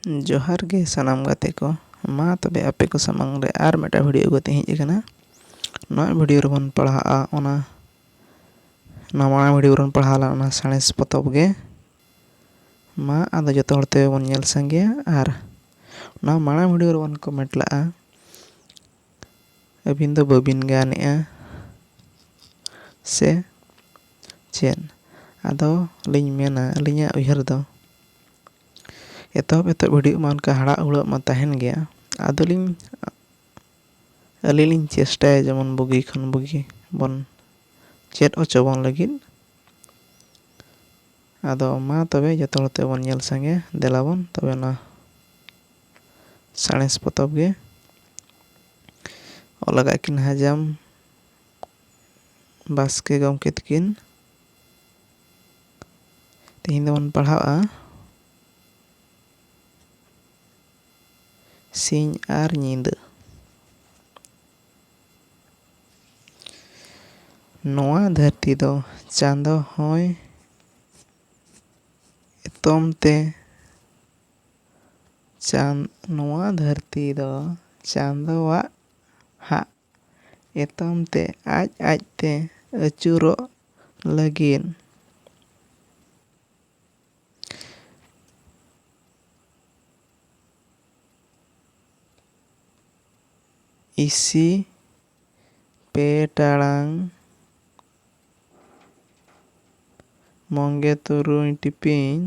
ᱡᱚᱦᱟᱨ ᱜᱮ ᱥᱟᱱᱟᱢ ᱜᱟᱛᱮ ᱠᱚ ᱢᱟ ᱛᱚᱵᱮ ᱟᱯᱮ ᱠᱚ ᱥᱟᱢᱟᱝ ᱨᱮ ᱟᱨ ᱢᱤᱫᱴᱟᱝ ᱵᱷᱤᱰᱭᱳ ᱟᱹᱜᱩ ᱠᱟᱛᱮᱧ ᱦᱮᱡ ᱟᱠᱟᱱᱟ ᱱᱚᱣᱟ ᱵᱷᱤᱰᱭᱳ ᱨᱮᱵᱚᱱ ᱯᱟᱲᱦᱟᱜᱼᱟ ᱚᱱᱟ ᱱᱚᱣᱟ ᱢᱟᱲᱟᱝ ᱵᱷᱤᱰᱭᱳ ᱨᱮᱵᱚᱱ ᱯᱟᱲᱦᱟᱣ ᱞᱮᱱ ᱚᱱᱟ ᱥᱟᱬᱮᱥ ᱯᱚᱛᱚᱵ ᱜᱮ ᱢᱟ ᱟᱫᱚ ᱡᱚᱛᱚ ᱦᱚᱲ ᱛᱮ ᱵᱚᱱ ᱧᱮᱞ ᱥᱟᱸᱜᱮᱭᱟ ᱟᱨ ᱱᱚᱣᱟ ᱢᱟᱲᱟᱝ ᱵᱷᱤᱰᱭᱳ ᱨᱮᱵᱚᱱ ᱠᱚᱢᱮᱱᱴ ᱞᱟᱜᱼᱟ ᱟᱹᱵᱤᱱ ᱫᱚ ᱵᱟᱹᱵᱤᱱ ᱜᱟᱱᱮᱜᱼᱟ ᱥᱮ ᱪᱮᱫ ᱟᱫᱚ ᱞᱤᱧ ᱢᱮᱱᱟ ᱟᱹᱞᱤᱧᱟᱜ ᱩᱭᱦᱟᱹᱨ ᱫᱚ ᱮᱛᱚᱦᱚᱵ ᱮᱛᱚᱦᱚᱵ ᱜᱷᱟᱹᱲᱤᱡ ᱢᱟ ᱚᱱᱠᱟ ᱦᱟᱲᱟᱜ ᱦᱩᱲᱟᱹᱜ ᱢᱟ ᱛᱟᱦᱮᱱ ᱜᱮᱭᱟ ᱟᱫᱚ ᱞᱤᱧ ᱟᱹᱞᱤᱧ ᱞᱤᱧ ᱪᱮᱥᱴᱟᱭᱟ ᱡᱮᱢᱚᱱ ᱵᱩᱜᱤ ᱠᱷᱚᱱ ᱵᱩᱜᱤ ᱵᱚᱱ ᱪᱮᱫ ᱦᱚᱪᱚ ᱵᱚᱱ ᱞᱟᱹᱜᱤᱫ ᱟᱫᱚ ᱢᱟ ᱛᱚᱵᱮ ᱡᱚᱛᱚ ᱦᱚᱲ ᱛᱮᱵᱚᱱ ᱧᱮᱞ ᱥᱟᱸᱜᱮᱭᱟ ᱫᱮᱞᱟ ᱵᱚᱱ ᱛᱚᱵᱮ ᱚᱱᱟ ᱥᱟᱬᱮᱥ ᱯᱚᱛᱚᱵ ᱜᱮ ᱚᱞ ᱟᱠᱟᱫ ᱠᱤᱱ ᱦᱟᱡᱟᱢ ᱵᱟᱥᱠᱮ ᱜᱚᱢᱠᱮ ᱛᱟᱹᱠᱤᱱ ᱛᱮᱦᱮᱧ ᱫᱚᱵᱚᱱ ᱯᱟᱲᱦᱟᱣᱜᱼᱟ ᱥᱤᱧ ᱟᱨ ᱧᱤᱫᱟᱹ ᱱᱚᱣᱟ ᱫᱷᱟᱹᱨᱛᱤ ᱫᱚ ᱪᱟᱸᱫᱚ ᱦᱚᱸᱭ ᱮᱛᱚᱢ ᱛᱮ ᱪᱟᱸᱫ ᱱᱚᱣᱟ ᱫᱷᱟᱹᱨᱛᱤ ᱫᱚ ᱪᱟᱸᱫᱚᱣᱟᱜ ᱦᱟᱜ ᱮᱛᱚᱢ ᱛᱮ ᱟᱡ ᱟᱡ ᱛᱮ ᱟᱹᱪᱩᱨᱚᱜ ᱞᱟᱹᱜᱤᱫ᱾ ᱤᱥᱤ ᱯᱮ ᱴᱟᱲᱟᱝ ᱢᱚᱜᱮ ᱛᱩᱨᱩᱭ ᱴᱤᱯᱤᱧ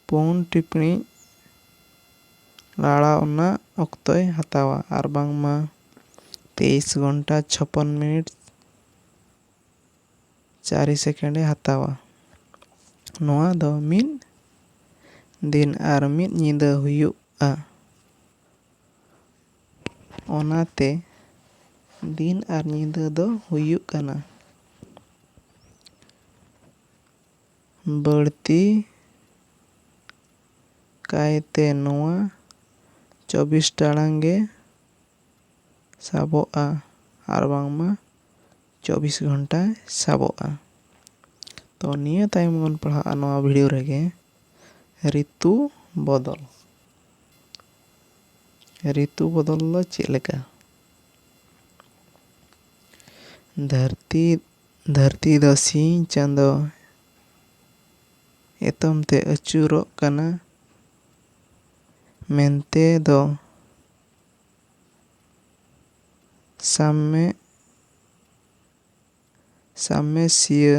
ᱯᱩᱱ ᱴᱤᱯᱬᱤᱡ ᱞᱟᱲᱟᱣ ᱨᱮᱱᱟᱜ ᱚᱠᱛᱚᱭ ᱦᱟᱛᱟᱣᱟ ᱟᱨ ᱵᱟᱝᱢᱟ ᱛᱮᱭᱤᱥ ᱜᱷᱚᱱᱴᱟ ᱪᱷᱚᱯᱚᱱ ᱢᱤᱱᱤᱴ ᱪᱟᱨᱤ ᱥᱮᱠᱮᱱᱰ ᱮ ᱦᱟᱛᱟᱣᱟ ᱱᱚᱣᱟ ᱫᱚ ᱢᱤᱫ ᱫᱤᱱ ᱟᱨ ᱢᱤᱫ ᱧᱤᱫᱟᱹ ᱦᱩᱭᱩᱜᱼᱟ ᱚᱱᱟ ᱛᱮ ᱫᱤᱱ ᱟᱨ ᱧᱤᱫᱟᱹ ᱫᱚ ᱦᱩᱭᱩᱜ ᱠᱟᱱᱟ ᱵᱟᱹᱲᱛᱤ ᱠᱟᱭᱛᱮ ᱱᱚᱣᱟ ᱪᱚᱵᱽᱵᱤᱥ ᱴᱟᱲᱟᱝ ᱜᱮ ᱥᱟᱵᱚᱜᱼᱟ ᱟᱨ ᱵᱟᱝᱢᱟ ᱪᱚᱵᱽᱵᱤᱥ ᱜᱷᱚᱱᱴᱟ ᱥᱟᱵᱚᱜᱼᱟ ᱛᱚ ᱱᱤᱭᱟᱹ ᱛᱟᱭᱚᱢ ᱵᱚᱱ ᱯᱟᱲᱦᱟᱜᱼᱟ ᱱᱚᱣᱟ ᱵᱷᱤᱰᱤᱭᱳ ᱨᱮᱜᱮ ᱨᱤᱛᱩ ᱵᱚᱫᱚᱞ ᱨᱤᱛᱩ ᱵᱚᱫᱚᱞ ᱫᱚ ᱪᱮᱫ ᱞᱮᱠᱟ? ᱫᱷᱟᱹᱨᱛᱤ ᱫᱷᱟᱹᱨᱛᱤ ᱫᱚ ᱥᱤᱧ ᱪᱟᱸᱫᱚ ᱮᱛᱚᱢ ᱛᱮ ᱟᱹᱪᱩᱨᱚᱜ ᱠᱟᱱᱟ ᱢᱮᱱᱛᱮ ᱫᱚ ᱥᱟᱢᱢᱮ ᱥᱟᱢᱢᱮᱥᱤᱭᱟᱹ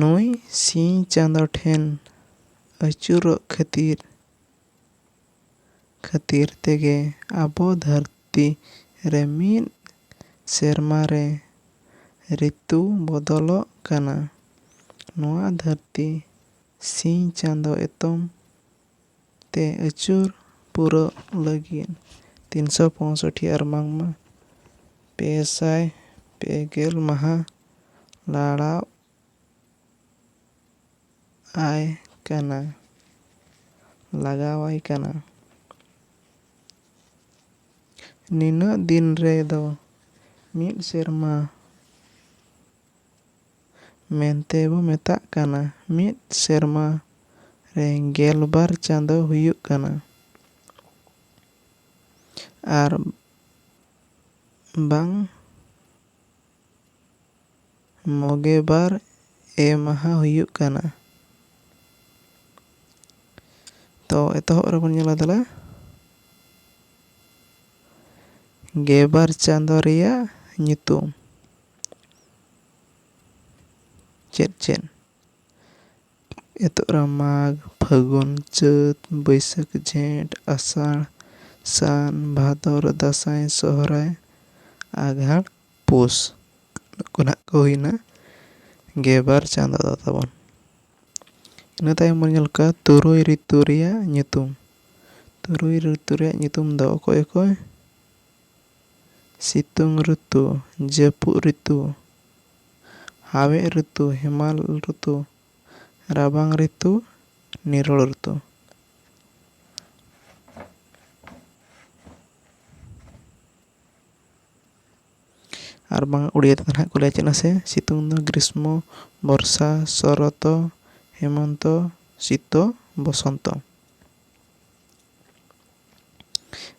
ᱱᱩᱭ ᱥᱤᱧ ᱪᱟᱸᱫᱚ ᱴᱷᱮᱱ ᱟᱹᱪᱩᱨᱚᱜ ᱠᱷᱟᱹᱛᱤᱨ ᱠᱷᱟᱹᱛᱤᱨ ᱛᱮᱜᱮ ᱟᱵᱚ ᱫᱷᱟᱹᱨᱛᱤ ᱨᱮ ᱢᱤᱫ ᱥᱮᱨᱢᱟ ᱨᱮ ᱨᱤᱛᱩ ᱵᱚᱫᱚᱞᱚᱜ ᱠᱟᱱᱟ ᱱᱚᱣᱟ ᱫᱷᱟᱹᱨᱛᱤ ᱥᱤᱧ ᱪᱟᱸᱫᱚ ᱮᱛᱚᱢ ᱛᱮ ᱟᱹᱪᱩᱨ ᱯᱩᱨᱟᱹᱜ ᱞᱟᱹᱜᱤᱫ ᱛᱤᱱ ᱥᱚ ᱯᱚᱸᱭᱥᱚᱴᱴᱤ ᱟᱨ ᱵᱟᱝᱢᱟ ᱯᱮ ᱥᱟᱭ ᱯᱮ ᱜᱮᱞ ᱢᱟᱦᱟ ᱞᱟᱲᱟᱣ ᱟᱭ ᱠᱟᱱᱟ ᱞᱟᱜᱟᱣᱟᱭ ᱠᱟᱱᱟ᱾ ᱱᱤᱱᱟᱹᱜ ᱫᱤᱱ ᱨᱮ ᱫᱚ ᱢᱤᱫ ᱥᱮᱨᱢᱟ ᱢᱮᱱᱛᱮ ᱵᱚ ᱢᱮᱛᱟᱜ ᱠᱟᱱᱟ᱾ ᱢᱤᱫ ᱥᱮᱨᱢᱟ ᱨᱮ ᱜᱮᱞ ᱵᱟᱨ ᱪᱟᱸᱫᱚ ᱦᱩᱭᱩᱜ ᱠᱟᱱᱟ ᱟᱨ ᱵᱟᱝ ᱢᱚᱜᱮ ᱵᱟᱨ ᱮ ᱢᱟᱦᱟ ᱦᱩᱭᱩᱜ ᱠᱟᱱᱟ᱾ ᱛᱚ ᱮᱛᱚᱦᱚᱵ ᱨᱮᱵᱚᱱ ᱧᱮᱞᱟ ᱫᱮᱞᱟ᱾ ᱜᱮᱵᱟᱨ ᱪᱟᱸᱫᱚ ᱨᱮᱭᱟᱜ ᱧᱩᱛᱩᱢ᱾ ᱪᱮᱫ ᱪᱮᱫ? ᱮᱛᱚᱜ ᱨᱮ ᱢᱟᱜᱽ, ᱯᱷᱟᱹᱜᱩᱱ, ᱪᱟᱹᱛ, ᱵᱟᱹᱭᱥᱟᱹᱠᱷ, ᱡᱷᱮᱸᱴ, ᱟᱥᱟᱲ, ᱥᱟᱱ, ᱵᱷᱟᱫᱚᱨ, ᱫᱟᱸᱥᱟᱭ, ᱥᱚᱦᱨᱟᱭ, ᱟᱜᱷᱟᱬ, ᱯᱩᱥ᱾ ᱱᱩᱠᱩ ᱱᱟᱦᱟᱜ ᱠᱚ ᱦᱩᱭᱮᱱᱟ ᱜᱮᱵᱟᱨ ᱪᱟᱸᱫᱚ ᱫᱚ ᱛᱟᱵᱚᱱ᱾ ᱤᱱᱟᱹ ᱛᱟᱭᱚᱢ ᱵᱚᱱ ᱧᱮᱞ ᱠᱚᱣᱟ ᱛᱩᱨᱩᱭ ᱨᱤᱛᱩ ᱨᱮᱭᱟᱜ ᱧᱩᱛᱩᱢ᱾ ᱛᱩᱨᱩᱭ ᱨᱤᱛᱩ ᱨᱮᱭᱟᱜ ᱧᱩᱛᱩᱢ ᱫᱚ ᱚᱠᱚᱭ ᱚᱠᱚᱭ? ᱥᱤᱛᱩᱝ ᱨᱩᱛᱩ, ᱡᱟᱹᱯᱩᱫ ᱨᱤᱛᱩ, ᱦᱟᱣᱮᱫ ᱨᱩᱛᱩ, ᱦᱮᱢᱟᱞ ᱨᱩᱛᱩ, ᱨᱟᱵᱟᱝ ᱨᱤᱛᱩ, ᱱᱤᱨᱚᱲ ᱨᱩᱛᱩ᱾ ᱟᱨ ᱵᱟᱝ ᱩᱲᱤᱭᱟ ᱛᱮᱫᱚ ᱱᱟᱦᱟᱜ ᱠᱚ ᱞᱟᱹᱭᱟ ᱪᱮᱫ ᱢᱟᱥᱮ? ᱥᱤᱛᱩᱝ ᱫᱚ ᱜᱨᱤᱥᱢᱚ, ᱵᱚᱨᱥᱟ, ᱥᱚᱨᱚᱛᱚ, ᱦᱮᱢᱚᱱᱛᱚ, ᱥᱤᱛᱚ, ᱵᱚᱥᱚᱱᱛᱚ᱾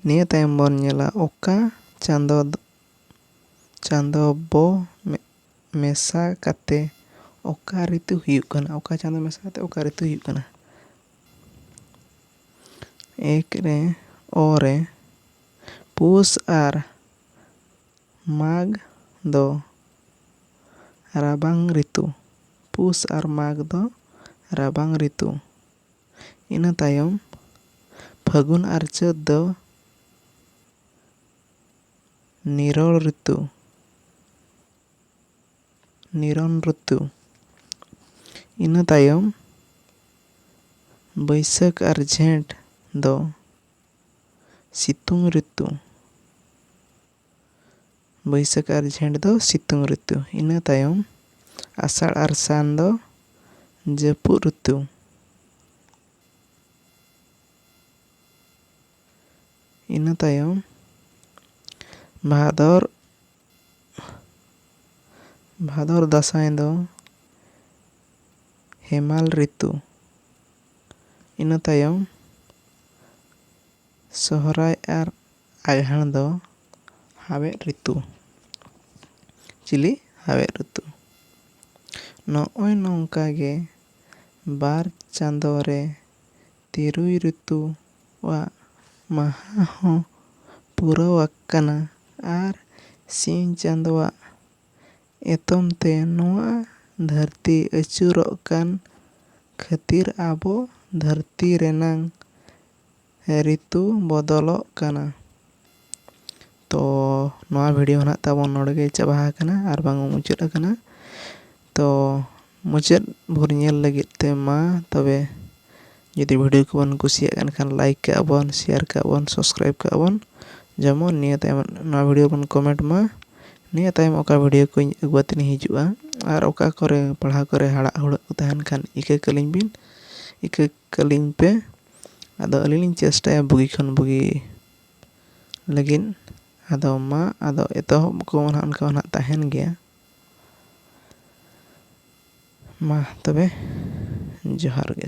ᱱᱤᱭᱟᱹ ᱛᱟᱭᱚᱢ ᱵᱚᱱ ᱧᱮᱞᱟ ᱚᱠᱟ ᱪᱟᱸᱫᱚ ᱪᱟᱸᱫᱚ ᱵᱚ ᱢᱮᱥᱟ ᱠᱟᱛᱮ ᱚᱠᱟ ᱨᱤᱛᱩ ᱦᱩᱭᱩᱜ ᱠᱟᱱᱟ ᱚᱠᱟ ᱪᱟᱸᱫᱚ ᱢᱮᱥᱟ ᱠᱟᱛᱮ ᱚᱠᱟ ᱨᱤᱛᱩ ᱦᱩᱭᱩᱜ ᱠᱟᱱᱟ ᱮᱠ ᱨᱮ ᱚ ᱨᱮ ᱯᱩᱥ ᱟᱨ ᱢᱟᱜᱽ ᱫᱚ ᱨᱟᱵᱟᱝ ᱨᱤᱛᱩ ᱯᱩᱥ ᱟᱨ ᱢᱟᱜᱽ ᱫᱚ ᱨᱟᱵᱟᱝ ᱨᱤᱛᱩ ᱤᱱᱟᱹ ᱛᱟᱭᱚᱢ ᱯᱷᱟᱹᱜᱩᱱ ᱟᱨ ᱪᱟᱹᱛ ᱫᱚ ᱱᱤᱨᱚᱲ ᱨᱤᱛᱩ ᱱᱤᱨᱚᱱ ᱨᱤᱛᱩ ᱤᱱᱟᱹ ᱛᱟᱭᱚᱢ ᱵᱟᱹᱭᱥᱟᱹᱠᱷ ᱟᱨ ᱡᱷᱮᱸᱴ ᱫᱚ ᱥᱤᱛᱩᱝ ᱨᱤᱛᱩ ᱵᱟᱹᱭᱥᱟᱹᱠᱷ ᱟᱨ ᱡᱷᱮᱸᱴ ᱫᱚ ᱥᱤᱛᱩᱝ ᱨᱤᱛᱩ᱾ ᱤᱱᱟᱹ ᱛᱟᱭᱚᱢ ᱟᱥᱟᱲ ᱟᱨ ᱥᱟᱱ ᱫᱚ ᱡᱟᱹᱯᱩᱫ ᱨᱤᱛᱩ᱾ ᱤᱱᱟᱹ ᱛᱟᱭᱚᱢ ᱵᱷᱟᱫᱚᱨ, ᱵᱷᱟᱫᱚᱨ ᱫᱟᱸᱥᱟᱭ ᱫᱚ ᱦᱮᱢᱟᱞ ᱨᱤᱛᱩ᱾ ᱤᱱᱟᱹ ᱛᱟᱭᱚᱢ᱾ ᱥᱚᱦᱨᱟᱭ ᱟᱨ ᱟᱜᱷᱟᱬ ᱫᱚ ᱦᱟᱣᱮᱫ ᱨᱤᱛᱩ᱾ ᱪᱤᱞᱤ ᱦᱟᱣᱮᱫ ᱨᱤᱛᱩ᱾ ᱱᱚᱜᱼᱚᱭ ᱱᱚᱝᱠᱟ ᱜᱮ ᱵᱟᱨ ᱪᱟᱸᱫᱚ ᱨᱮ ᱛᱤᱨᱩᱭ ᱨᱤᱛᱩ ᱣᱟᱜ ᱢᱟᱦᱟᱸ ᱦᱚᱸ ᱯᱩᱨᱟᱹᱣ ᱟᱠᱟᱱᱟ ᱟᱨ ᱥᱤᱧ ᱪᱟᱸᱫᱚ ᱣᱟᱜ ᱮᱛᱚᱢ ᱛᱮ ᱱᱚᱣᱟ ᱫᱷᱟᱹᱨᱛᱤ ᱟᱹᱪᱩᱨᱚᱜ ᱠᱟᱱ ᱠᱷᱟᱹᱛᱤᱨ ᱟᱵᱚ ᱫᱷᱟᱹᱨᱛᱤ ᱨᱮᱱᱟᱝ ᱨᱤᱛᱩ ᱵᱚᱫᱚᱞᱚᱜ ᱠᱟᱱᱟ ᱛᱚ ᱱᱚᱣᱟ ᱵᱷᱤᱰᱤᱭᱳ ᱱᱟᱦᱟᱜ ᱛᱟᱵᱚᱱ ᱱᱚᱰᱮ ᱜᱮ ᱪᱟᱵᱟ ᱟᱠᱟᱱᱟ ᱟᱨ ᱵᱟᱝ ᱢᱩᱪᱟᱹᱫ ᱟᱠᱟᱱᱟ ᱛᱚ ᱢᱩᱪᱟᱹᱫ ᱵᱷᱳᱨ ᱧᱮᱞ ᱞᱟᱹᱜᱤᱫ ᱛᱮ ᱢᱟ ᱛᱚᱵᱮ ᱡᱩᱫᱤ ᱵᱷᱤᱰᱤᱭᱳ ᱠᱚᱵᱚᱱ ᱠᱩᱥᱤᱭᱟᱜ ᱠᱟᱱ ᱠᱷᱟᱱ ᱞᱟᱭᱤᱠ ᱠᱟᱜᱼᱟ ᱵᱚᱱ ᱥᱮᱭᱟᱨ ᱠᱟᱜᱼᱟ ᱵᱚᱱ ᱥᱟᱵᱥᱠᱨᱟᱭᱤᱵᱽ ᱠᱟᱜᱼᱟ ᱵᱚᱱ ᱡᱮᱢᱚᱱ ᱱᱤᱭᱟᱹ ᱛᱟᱭᱚᱢ ᱱᱚᱣᱟ ᱵᱷᱤᱰᱤᱭᱳ ᱵᱚᱱ ᱠᱚᱢᱮᱱᱴ ᱢᱟ ᱱᱤᱭᱟᱹ ᱛᱟᱭᱚᱢ ᱚᱠᱟ ᱵᱷᱤᱰᱤᱭᱳ ᱠᱚᱧ ᱟᱹᱜᱩ ᱠᱟᱛᱮ ᱤᱧ ᱦᱤᱡᱩᱜᱼᱟ ᱟᱨ ᱚᱠᱟ ᱠᱚᱨᱮ ᱯᱟᱲᱦᱟᱣ ᱠᱚᱨᱮ ᱦᱟᱲᱟᱜ ᱦᱩᱲᱟᱹᱜ ᱠᱚ ᱛᱟᱦᱮᱱ ᱠᱷᱟᱱ ᱤᱠᱟᱹ ᱠᱟᱹᱞᱤᱧ ᱵᱤᱱ ᱤᱠᱟᱹ ᱠᱟᱹᱞᱤᱧ ᱯᱮ ᱟᱫᱚ ᱟᱹᱞᱤᱧ ᱞᱤᱧ ᱪᱮᱥᱴᱟᱭᱟ ᱵᱩᱜᱤ ᱠᱷᱚᱱ ᱵᱩᱜᱤ ᱞᱟᱹᱜᱤᱫ ᱟᱫᱚ ᱢᱟ ᱟᱫᱚ ᱮᱛᱚᱦᱚᱵ ᱠᱚ ᱚᱱᱟ ᱚᱱᱠᱟ ᱢᱟ ᱱᱟᱦᱟᱜ ᱛᱟᱦᱮᱱ ᱜᱮᱭᱟ ᱢᱟ ᱛᱚᱵᱮ ᱡᱚᱦᱟᱨ ᱜᱮ